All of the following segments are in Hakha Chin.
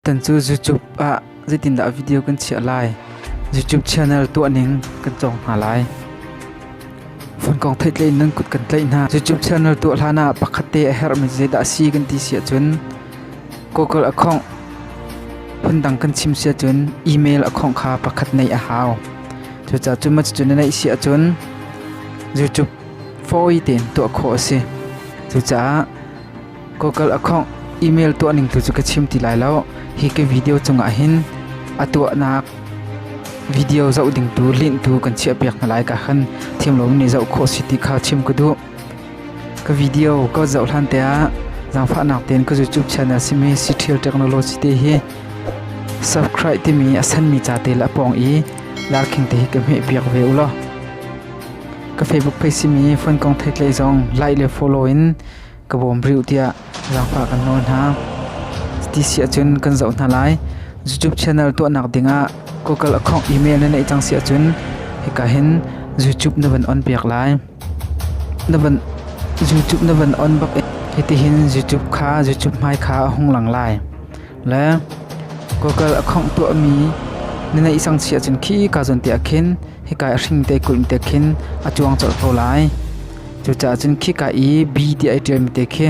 Kan cu YouTube ah zeitindah video kan chiah lai? YouTube channel tuahning kan cawng hna lai. Funkong theih tlein nan kut kan tleih hna. YouTube channel tuah hlan ah pakhat te a herhmi zeidah a si kan ti si ahcun Google a khongh. Phundang kan chim si ahcun email a khongh kha pakhat neih a hau. Cucaah cu mah cucu na neih si ahcun YouTube fawi tein tuah khawh a si. Cucaah Google a khawngh email tuahning tu cu ka chim ti lai lo. Hi ka video cungah hin a tuahnak video zoh ding tu link tu kan chiahpiak hna lai ka khan thiam lomi nih zoh khawh si ti kha chim ka duh. Ka video ka zoh hlan te ah zaangfahnak tein ka YouTube channel simi Citriel Technology te hi subscribe timi a sanmi ca te le a pawng i larkhing te hi ka hmehpiak ve u law. Ka Facebook page simi Fun Kong Thetlei zong like le follow in ka bawm rih u tiah zaangfah kan nawl hna. Ti si ahcun kan zoh hna lai. YouTube channel tuahnak dingah Google account email na neih cang si ahcun hika hin YouTube na van on piak lai. Na van YouTube na van on bak in hitihin YouTube kha YouTube hmai kha a hung lang lai. Le Google account tuahmi na neih sang si ahcun khi ka zon te ah khin hika i hringte kulh te khin a cuang colh ko lai. Cucaah cun khika i bi tiah i ṭialmi te khi,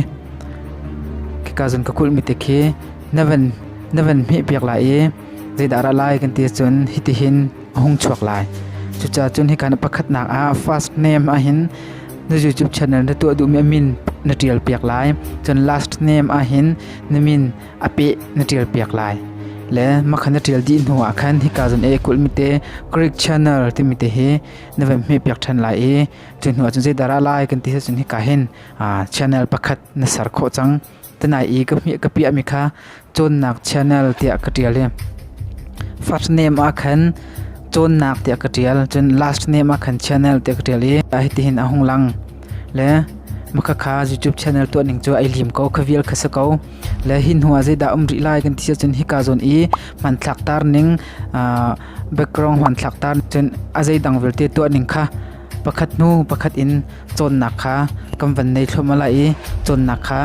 khika cun ka kulhmi te khi na van na van hmehpiak lai i zeidah ra lai kan ti cun hitihin a hung chuak lai. Cucaah cun hika na pakhatnak ah first name ahhin na YouTube channel na tuah duhmi a min na ṭial piak lai. Cun last name ahhin na min a peh na ṭialpiak lai. Le makha na ṭial dih hnuah khan hika zun i kulhmi te Greek channel timi te hi na van hmehpiak ṭhan lai i cu hnuah cun zeidah ra lai kan ti sih cun hika hin channel pakhat na ser khawh cang. Tanai i ka hmih ka piahmi kha cawnnak channel tiah ka ṭial i first name ah khan cawnnak tiah ka ṭial cun last name ah khan channel tiah ka ṭial i hitihin a hung lang le makha kha YouTube channel tuah ning cu ai lim ko kha vial kha si ko Le hi hnuah zeidah a um rih lai kan ti ahcun hika zawn i hmanthlaktar ning background hmanthlaktar cun a zeidang vialte tuah ning kha pakhat hnu pakhat in cawnnak kha kan van nei thluahmah lai i cawnnak kha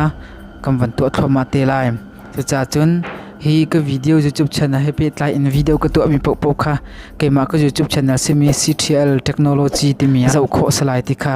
kan van tuah thluahmah te lai. Cucaah cun hi ka video YouTube channel he pehtlai in video ka tuahmi paohpaoh kha keimah ka YouTube channel simi CTL Technology timi ah zoh khawh salai ti kha